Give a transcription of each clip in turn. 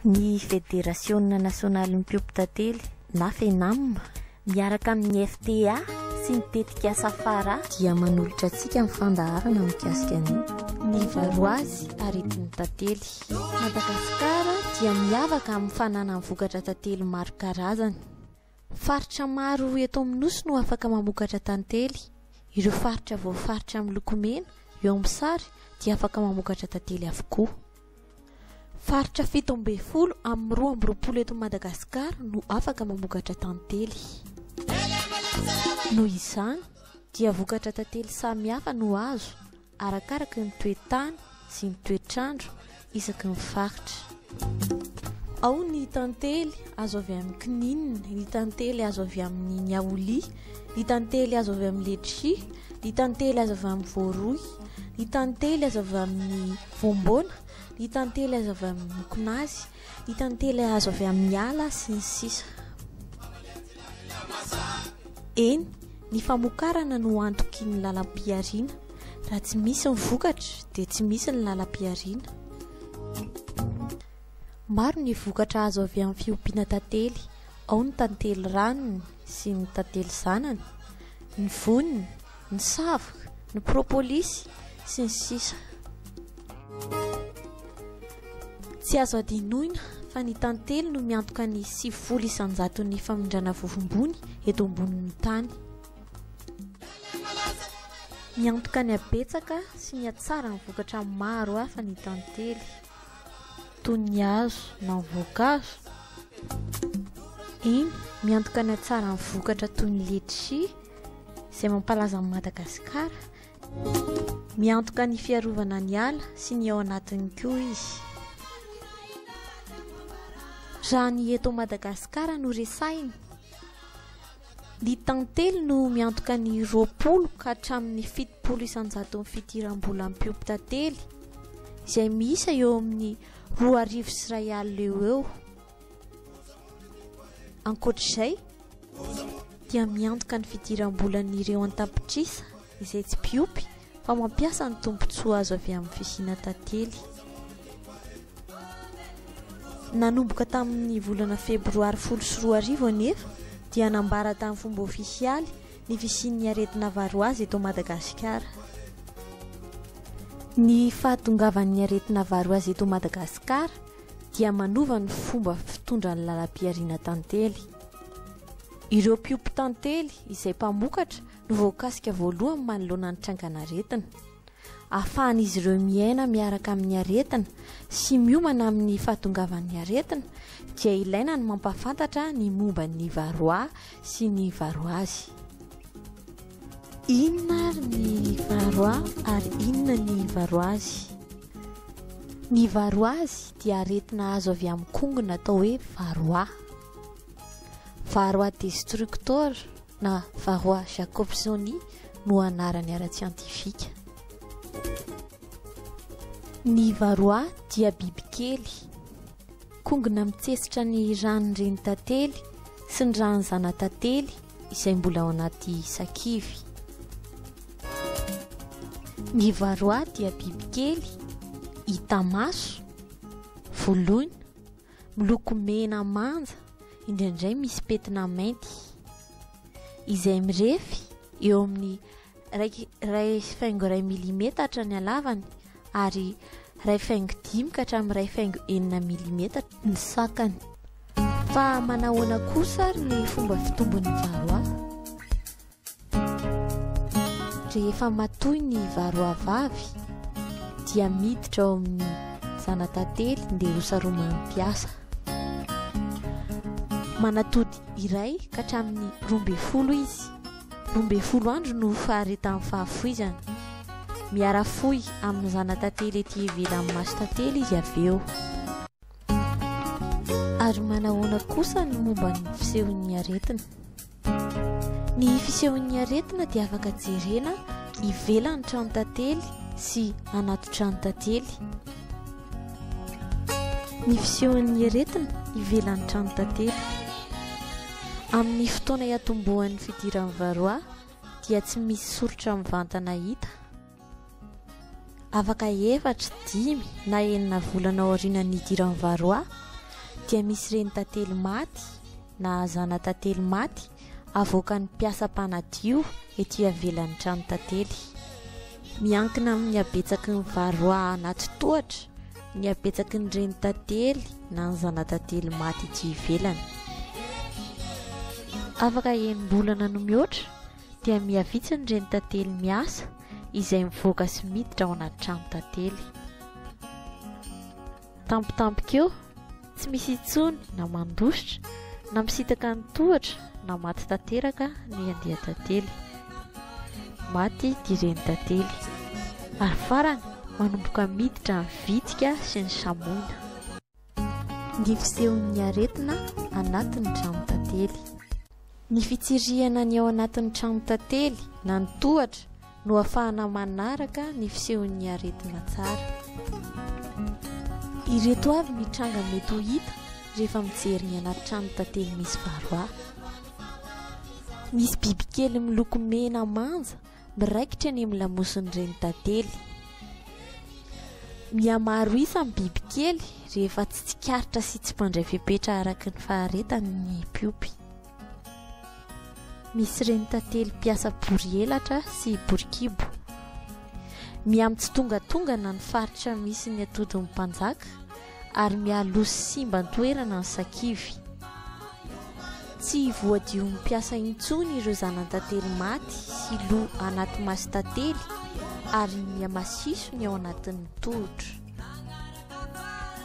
Ny Federasiona Nasionalin'ny Mpiompy Tantely na Fenam, miaraka amin'ny FTA sy ny tetikasa Fara, dia manolotra antsika ny fandaharana mikasika ny. Ny varoazy aretin'ny tantely. Madagasikara dia miavaka amin'ny fananany vokatra tantely maro karazany. Faritra maro eto amin'ny Nosy no afaka mamokatra tantely. Ireo faritra voafaritra miloko mena eo amin'ny sary dia afaka mamokatra tantely avokoa. Faritra fito ambin'ny folo amin'ny roa amby roapolo eto Madagasikara no afaka mamokatra tantely. Noho izany dia vokatra tantely samihafa no azo arakaraky ny toe-tany sy ny toetr'andro isaky ny faritra. Ao ny tantely azo avy amin'ny kininina, ny tantely azo avy amin'ny niaolia, ny tantely azo avy amin'ny letchi, ny tantely azo avy amin'ny voaroy, ny tantely azo avy amin'ny voamboana, ny tantely azo avy amin'ny mokonazy, Hita ny télé azo avy amin'ny ala sy ny sisa. Eny, ny famokarana no antoky ny lalam-pihariana. Raha tsy misy ny vokatra dia tsy misy ny lalam-pihariana. Maro ny vokatra azo avy amin'ny fiompiana tantely, ao ny tantely ranony sy ny tantely zanany, ny voniny, ny savoka, ny propolisy, sy ny sisa. Tsy azo hadinoina fa ny tantely no miantoka ny sivifolo isan-jaton'ny famindrana vovombony eto ambonin'ny tany. Miantoka ny habetsaka sy ny hatsara ny vokatra maro hafa ny tantely, toy ny hazo na ny voankazo. Eny, miantoka ny hatsara ny vokatra toy ny letisia, izay mampalaza an'i Madagasikara, Miantoka ny fiarovana ny ala sy ny ao anatiny koa izy. Raha ny eto Madagasikara no resahina, ny tantely no miantoka ny roapolo ka hatramin'ny fitopolo isan-jaton'ny fidiram-bolan'ny mpiompy-tantely, izay miisa eo amin'ny roa arivo sy iray alina eo ho eo. Ankoatra izay dia miantoka ny fidiram-bolan'ireo an-tapitrisa izay tsy mpiompy fa mampiasa ny tombontsoa azo avy amin'ny fisiana tantely. Nanomboka tamin'ny volana febroary folo sy roa arivo anefa dia nambara tamin'ny fomba ofisialy ny fisian'ny aretina varoazy eto Madagasikara. Ny fahatongavan'ny aretina varoazy eto Madagasikara dia manova ny fomba fitondra ny lalam-pihariana tantely. Ireo mpiompy tantely izay mpamokatra no voakasika voalohany manoloana ny trangan'aretina. Ahafahan'izy ireo miaina miaraka amin'ny aretina sy miomana amin'ny fahatongavan'ny aretina dia ilaina ny mampahafantatra ny momba ny varroa sy ny varroise. Inona ary ny varoa ary inona ny varoazy? Ny varoazy dia aretina azo avy amin'ny kongona atao hoe varoa. Varoa destructor na varoa jacobsoni no anarany ara-tsiantifika. Ny varoa dia bibikely. Kongona mitsetsitra ny ran'ny renin-tantely sy ny ran'ny zana-tantely izay mbola ao anaty sakivy. Ny varroa dia bibikely hita maso, voloina, miloko mena manja, indraindray misy pentina mainty, izay mirefy eo amin'ny iray iray faingo iray milimetatra ny halavany ary iray faingo dimy ka hatramin'ny iray faingo enina milimetatra ny sakany. Fa manahoana kosa ary ny fomba fitombon'ny varroa? Rehefa matoy ny varroa vavy dia miditra ao amin'ny zanatantely dia ho saroman'ny mpiasa. Manatody iray ka hatramin'ny roa ambin'ny folo izy. Roa ambin'ny folo andro no faharetan'ny fahafoizany. Miara-fohy amin'ny zana-tantely ety ivelan'ny mason-tantely izy avy eo. Ary manahoana kosa ny momba ny fisehon'ny aretina? Ny fisehon'ny aretina dia afaka jerena ivelan'ny tranon-tantely sy anaty tranon-tantely. Ny fisehon'ny aretina ivelan'ny tranon-tantely. Amin'ny fotoana iatombohan'ny fidiran'ny varroa dia tsy misy soritra mivantana hita. Afaka efatra, dimy na enina volana aorianan'ny nidiran'ny varroa dia misy reny tantely maty na zanatantely maty avoakan'ny mpiasa mpanadio ety ivelan'ny trano tantely. Miankina amin'ny habetsaky ny varroa anaty tohatra. Ny habetsaky ny renitantely na ny zanatantely maty etsy ivelany. Afaka enim-bolana no mihoatra dia miha vitsy ny renitantely miasa izay mivoaka sy miditra ao anaty trano tantely. Tampotampoka eo, Tsy misy intsony na mandositra, na misitaka ny tohatra, na maty tanteraka ny andian-tantely. Maty ity renin-tantely. Ary farany, manomboka miditra ny vitika sy ny samoina. Ny fisehon'ny aretina anatin'ny tranon-tantely. Ny fitsirihana ny ao anatin'ny tranon-tantely na ny tohatra no afahana manaraka ny fisehon'ny aretina tsara. Ireto avy ny tranga mety ho hita rehefa mijery ny anaty trano tantely misy varroa. Misy bibikely miloko mena manja miraikitra eny amin'ny lamosin'ireny tantely. Mihamaro isa ny bibikely rehefa tsy tsikaritra sy tsy mandray fepetra araka ny faharetany ny mpiompy. Misy renin-tantely mpiasa bory elatra sy bory kibo. Miha mitsitongatongana ny faritra misy ny atodin'ny mpanjaka ary mialoha sy simba an-toerana ny sakivy. Tsy voadion'ny mpiasa intsony ireo zanan-tantely maty sy lo anaty masin-tantely ary miha masiso ny ao anatin'ny tohotra.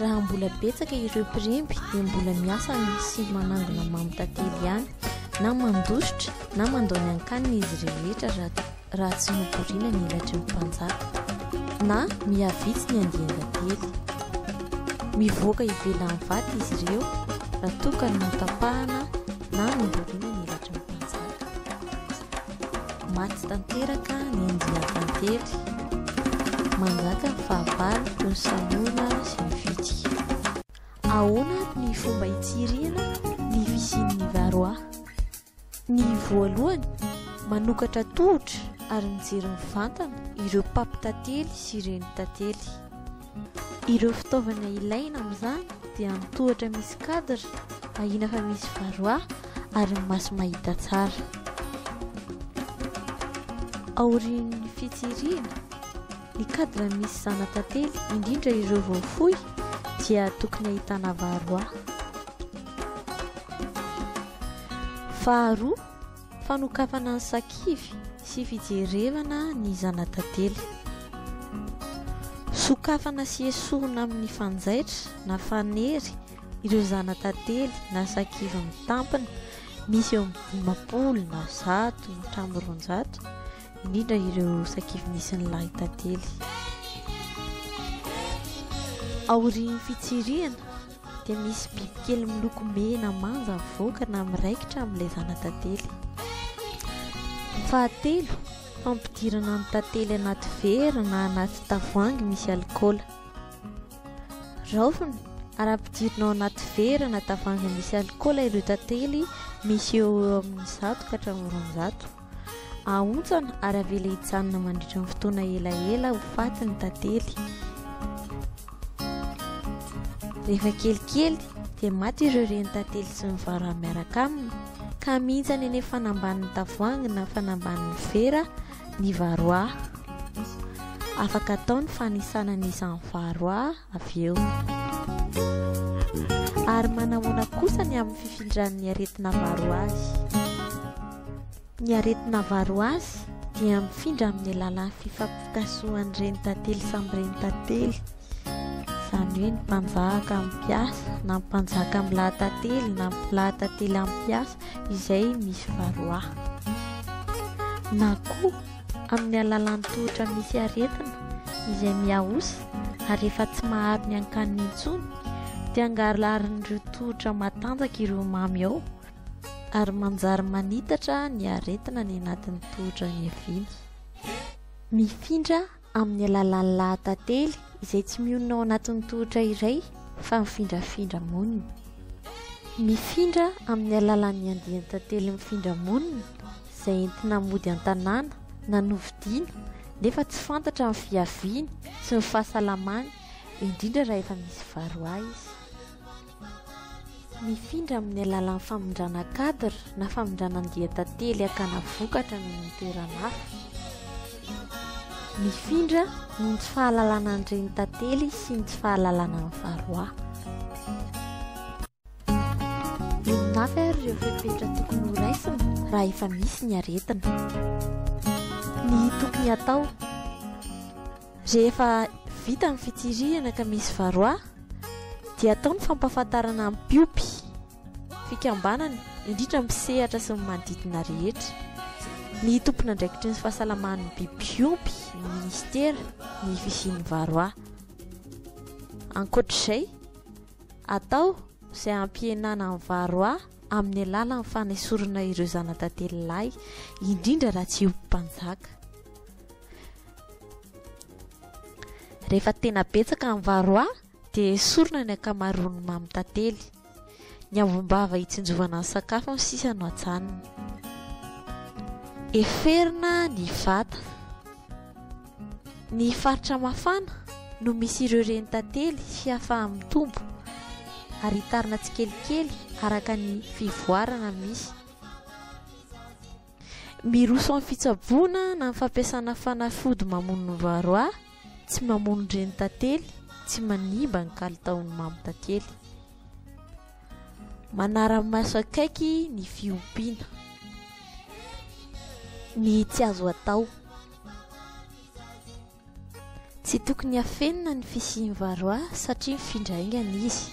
Raha mbola betsaka ireo mpiremby dia mbola miasa ny sy manangona mamy tantely ihany na mandositra na mandao ny ankanina izy rehetra raha tsy notoriana ny elatry ny mpanjaka na mihavitsy ny andian-tantely. Mivoaka ivelan'ny vato izy ireo raha toa ka notapahana na notoriana ny elatry ny mpanjaka. Maty tanteraka ny andian-tantely. Manjaka ny fahavalo toy ny salona sy ny vitsika. Ahoana ary ny fomba hitsirihana ny fisian'ny varroa? Ny voalohany, manokatra tohotra ary mijery mivantana ireo mpampitantely sy renin-tantely. Ireo fitaovana ilaina amin'izany dia ny tohatra misy cadre ahiana fa misy varroa ary ny maso mahita tsara. Aorian'ny fitsirihina, ny cadre misy zana-tantely, indrindra ireo vao foy, dia tokony ahitana varroa. Faharoa, Fanokafana ny sakivy sy fijerevana ny zana-tantely. Sokafana sy esorina amin' ny fanjaitra na fanery ireo zana-tantely na sakivy mitampina, misy eo amin' ny dimampolo na zato na hatramin' ny roanjato, indrindra ireo sakivy misy ny lahin-tantely. Aorian' ny fitsirihana. dia misy bibikely miloko mena manja mivoaka na miraikitra amin'ilay zana-tantely. Fahatelo, fampidirana ny tantely anaty vera na anaty tavoahangy misy alikaola. Raofina, arapidirina ao anaty vera na tavoahangy misy alikaola ireo tantely misy eo amin'ny zato ka hatramin'ny roanjato. Ahontsana ary avela hijanona mandritra ny fotoana elaela ho faty ny tantely. Rehefa kelikely dia maty ireo renin-tantely sy ny vara miaraka aminy ka mihintsana eny fanambanin'ny tavoahangy na fanambanin'ny vera ny varroa. Afaka atao ny fanisana ny isan'ny varroa avy eo. Ary manahoana kosa ny amin'ny fifindran'ny aretina varroa azy? Ny aretina avaro azy dia mifindra amin'ny alalan'ny fifampitasohan'ny renitantely samy renitantely, izany hoe ny mpanjaka amin'ny mpiasa na ny mpanjaka amin'ny lahatantely na ny lahatantely amin'ny mpiasa izay misy varroa. Na koa amin'ny alalan'ny tohotra misy aretina izay mihaosa ary efa tsy maharo ny hankaniny intsony dia angalarin'ireo tohotra matanjaka ireo mamy ao Ary manjary manitatra ny aretina any anatin'ny tohotra niaviana. Mifindra amin'ny alalan'ny lahatantely izay tsy mionona ao anatin'ny tohotra iray fa mifindrafindra monina. Mifindra amin'ny alalan'ny andian-tantely mifindra monina izay entina mody an-tanàna na novidiana nefa tsy fantatra ny fiaviany sy ny fahasalamany indrindra raha efa misy varoaha izy. Mifindra amin'ny alalan'ny famindrana cadre na famindrana andian-tantely hakana vokatra any amin'ny toerana hafa. Mifindra noho ny tsy fahalalana an'ireny tantely sy ny tsy fahalalana an'i Varroa. Inona avy ary ireo fepetra tokony horaisina raha efa misy ny aretina? Ny tokony hatao. Rehefa vita ny fitsirihana ka misy varroa dia atao ny fampahafantarana ny mpiompy, fikambanana, indrindra ny mpisehatra sy ny manodidina rehetra, ny tompon'andraikitry ny fahasalaman'ny biby mpiompy, ny minisitera, ny fisian'ny varroa. Ankoatr'izay, atao izay hampihenana ny varroa amin'ny alalan'ny fanesorana ireo zanatantely lahy, indrindra raha tsy iompy mpanjaka. Rehefa tena betsaka ny varroa dia esorina ny ankamaroan'ny mamy tantely. Ny ambom-bava hitsinjovana ny sakafo no sisa no ajanona. Heferina ny vata. Ny faritra mafana no misy ireo reny tantely sy hahafahany mitombo ary hitarina tsikelikely araka ny fivoarana misy. Miroso amin'ny fitsaboana na amin'ny fampiasana fanafody mamono ny varroa, tsy mamono ny reny tantely, tsy manimba ny kalitaon'ny mamo tantely. Manara-maso akaiky ny fiompiana, ny tsy azo atao. Tsy tokony hafenina ny fisian'i Varroa satria mifindra haingana izy.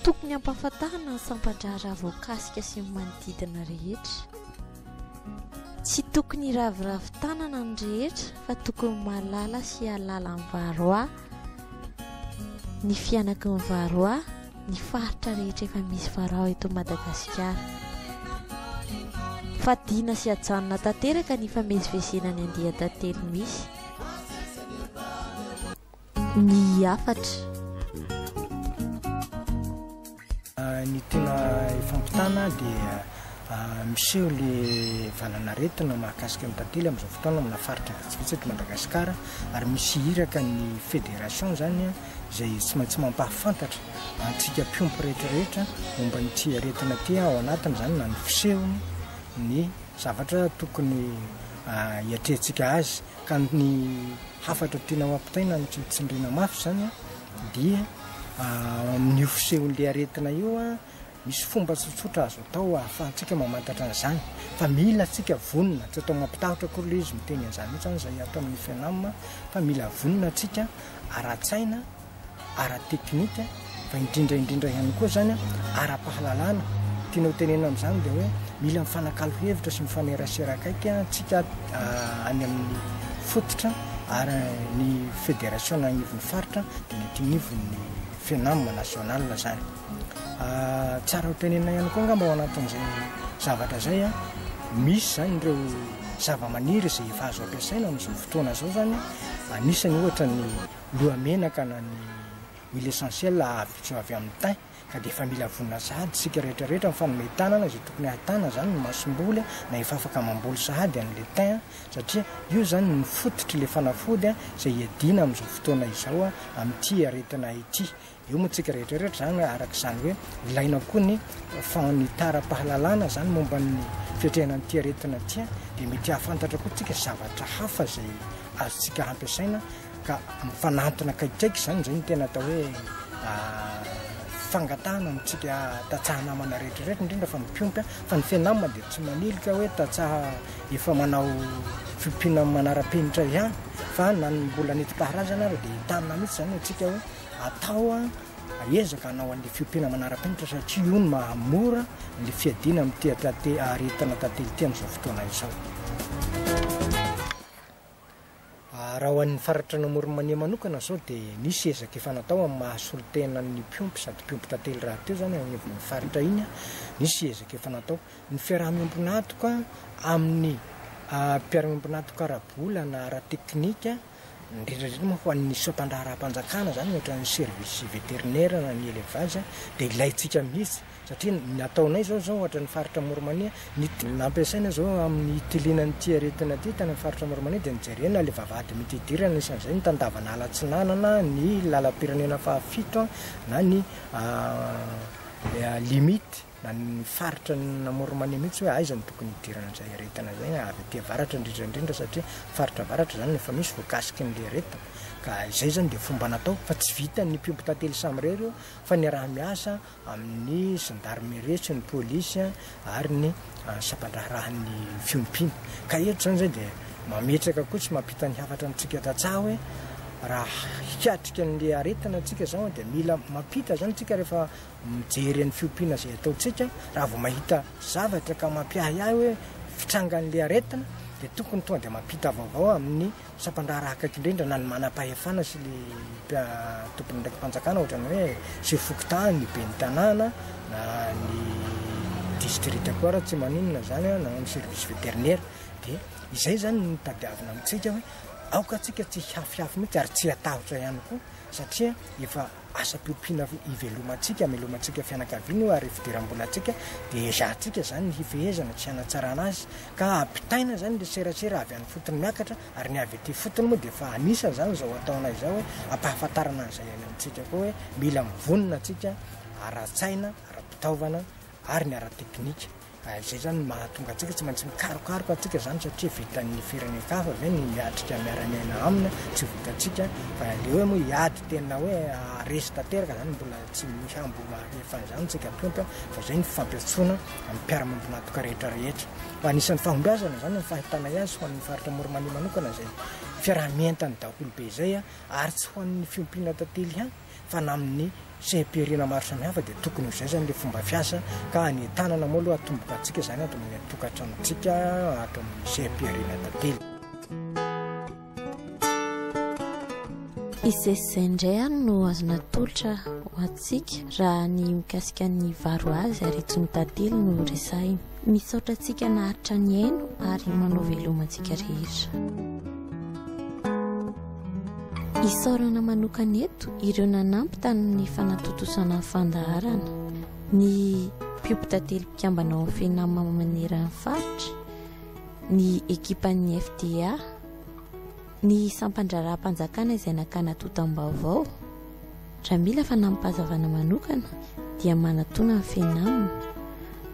Tokony hampahafantarina ny sampan-draharaha voakasika sy ny manodidina rehetra. Tsy tokony hiraviravy tanana ny rehetra fa tokony mahalala sy hahalala an'i Varroa ny fianakin'i Varroa. ny faritra rehetra efa misy varao eto Madagasikara. Fadiana sy ajanona tanteraka ny famezivezena ny andian-tantely misy. Ny hafatra. Ny tena ifampitana dia miseho le valan'aretina mahakasika ny tantely amin'izao fotoana amina faritra vitsivitsy eto Madagasikara ary misy iraka ny federation zany izay tsy maintsy mampahafantatra antsika mpiompy rehetrarehetra momba an'ity aretina ity, ao anatin'izany na ny fisehony, ny zavatra tokony hiatrehantsika azy. Ka ny hafatra tiana ho ampitaina no tsy tsindriana mafy izany dia ao amin'io fisehon'ilay aretina io Misy fomba tsotsotra azo atao ahafahantsika mamantatra an'izany fa mila antsika vonona, tsy atao mampitahotra akory ilay izy miteny an'izany hoe izany izay ato amin'ny FENAM fa mila vonona antsika ara-tsaina, ara-teknika fa indrindra indrindra ihany koa izany ara-pahalalana, tiana ho tenenina amin'izany dia hoe mila mifanakalo hevitra sy mifanerasera akaiky antsika any amin'ny fototra ary ny federasiona anivon'ny faritra dia mety anivon'ny FENAM national izany. Tsara ho tenenina ihany koa angamba ao anatin'izay zavatra izay, misy izany ireo zavamaniry izay efa azo ampiasaina amin'izao fotoana izao izany, anisany ohatra ny lohamenaka na ny huile essentielle azo avy amin'ny thym, ka dia efa mila vonona sahady isika rehetra rehetra amin'ny fanome tanana izay tokony hahitana izany ny masomboly na efa afaka mamboly sahady an'ilay thym satria io izany no fototr'ilay fanafody izay hiadiana amin'izao fotoana izao amin'ity aretina ity. Eo moa tsika rehetra rehetra zany araka izany hoe ilaina koa ny fanitaram-pahalalana zany momba ny fiatrehana an'ity aretina ity dia mety hahafantatra koa tsika zavatra hafa izay azontsika hampiasaina ka mifanantona akaikikaiky zany izay ny tena atao hoe fangatahana amintsika tatsaha namana rehetra rehetra indrindra fa ny mpiompy fa ny fianamana dia tsy manilika hoe tatsaha efa manao fiompiana manara-penitra ihany fa na ny mbola nety-paharazana ary dia entanina mihitsy zany atsika hoe atao an, aezaka hanao an'le fiompiana manara-penitra satria io no mahamora le fiadiana amin'ny tehatrate aharetina tantely ity amin'izao fotoana izao. Raha ho an'ny faratr' Anamoromanea manokana izao dia nisy ezaka efa natao amin'ny maha solontena ny mpiompy sady mpiompy tantely rahateo izany ao anivon'iny faritra iny an, nisy ezaka efa natao. Ny fiaraha-miombon'antoka amin'ny mpiara-miombon'antoka ara-bola na ara-teknika, indrindra indrindra moa fa ny soatandraharaham-panjakana izany ohatra ny service vétérinaire na ny élevage dia ilaintsika mihitsy satria ny ataonay izao izao ohatra ny faritra Moromania ny nampiasaina izao amin'ny hitiliana an'ity aretina ity tany amin'ny faritra Moromania dia nijerena ilay vavahady mety hidirana isan'izay ny tandavan'ala atsinanana ny lalam-pirenena fahafito na ny limite na ny faritra namory mania mihitsy hoe aiza no tokony hidirana izay aretina izay, avy aty avaratra indrindra indrindra satria faritra avaratra izany no efa misy voakasiky ny aretina ka izay izany dia fomba natao fa tsy vitan'ny mpiompy tantely samy irery io fa niaraha miasa amin'ny zandarmerie sy ny polisy ary ny sampandraharahan'ny fiompiana ka eto izany izay dia mametraka koa tsy mampita ny hafatra amintsika tantsaha hoe raha hiatrika ny aretina antsika izao dia mila mampita izany tsika rehefa mijery an'ny fiompiana izay ataontsika raha vao mahita zavatra ka mampiahiahy hoe fitrangan'ilay aretina dia tokony tonga dia mampita vaovao amin'ny sampandraharaha akaiky indrindra na ny manam-pahefana sy ny tomponandraiki-panjakana ohatrany hoe sy fokontany ny ben'ny tanàna na ny distrita koa raha tsy maninona izany na amin'ny service vétérinaire dia izay izany no tadiavina amintsika hoe aoka antsika tsy hihafihafy mihitsy ary tsy hatahotra ihany koa satria efa Asa mpiompiana ivelomantsika, amelomantsika fianakaviana io ary fidiram-bolantsika dia ezahantsika izany ny hifehezana sy hanatsarana azy ka ampitaina izany ilay serasera avy any ifotony miakatra ary ny avy ety ifotony moa dia efa anisan' izany izao ataonay izao hoe ampahafantarana an'izay iainantsika koa hoe mila mivonona antsika ara-tsaina, ara-pitaovana ary ny ara-teknika. Izay izany no mahatonga antsika tsy maintsy mikarokaroka antsika izany satria vitan'ny firenen-kafa ve ny miatrika miara-miaina aminy? Tsy vitantsika. Fa ilay hoe moa hiady tena hoe haharesy tanteraka izany mbola tsy misy hambo alefa an'izany isika tonta fa izay ny fampiantsoana amin'ny mpiara-miombon'antoka rehetra rehetra. Fa anisan'ny fahombiazana izany ny fahitanay azy ho an'ny faritra Morimania manokana izay fiaraha-mientan'ny daholobe izay ary tsy ho an'ny fiompiana tantely ihany. fa na amin'ny seha-pihariana maro samihafa dia tokony ho izay izany ilay fomba fiasa ka any an-tanana moa aloha atomboka antsika izany ato amin'ny tokantranontsika ato amin'ny seha-pihariana tantely. Izay izay indray ary no azo natolotra ho antsika raha ny mikasika ny varo azy ary tsy ny tantely no resahina. Misaotra antsika naharitra nihaino ary manao veloma antsika rehetra. Isaorana manokana eto ireo nanampy tamin'ny fanatontosana ny fandaharana, ny mpiompitantely mpikambana ao Fenam maneran'ny faritra, ny ekipan'ny FDA, Ny sampan-draharaham-panjakana izay nakana tontam-baovao, raha mila fanampazavana manokana dia manatona ny Fenam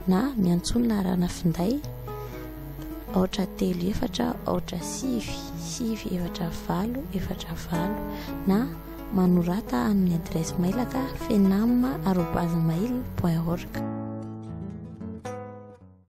na miantsoa ny laharana finday aotra telo efatra aotra sivy sivy efatra valo efatra valo na manorata amin'ny adiresy mailaka fenam arobase mail point org.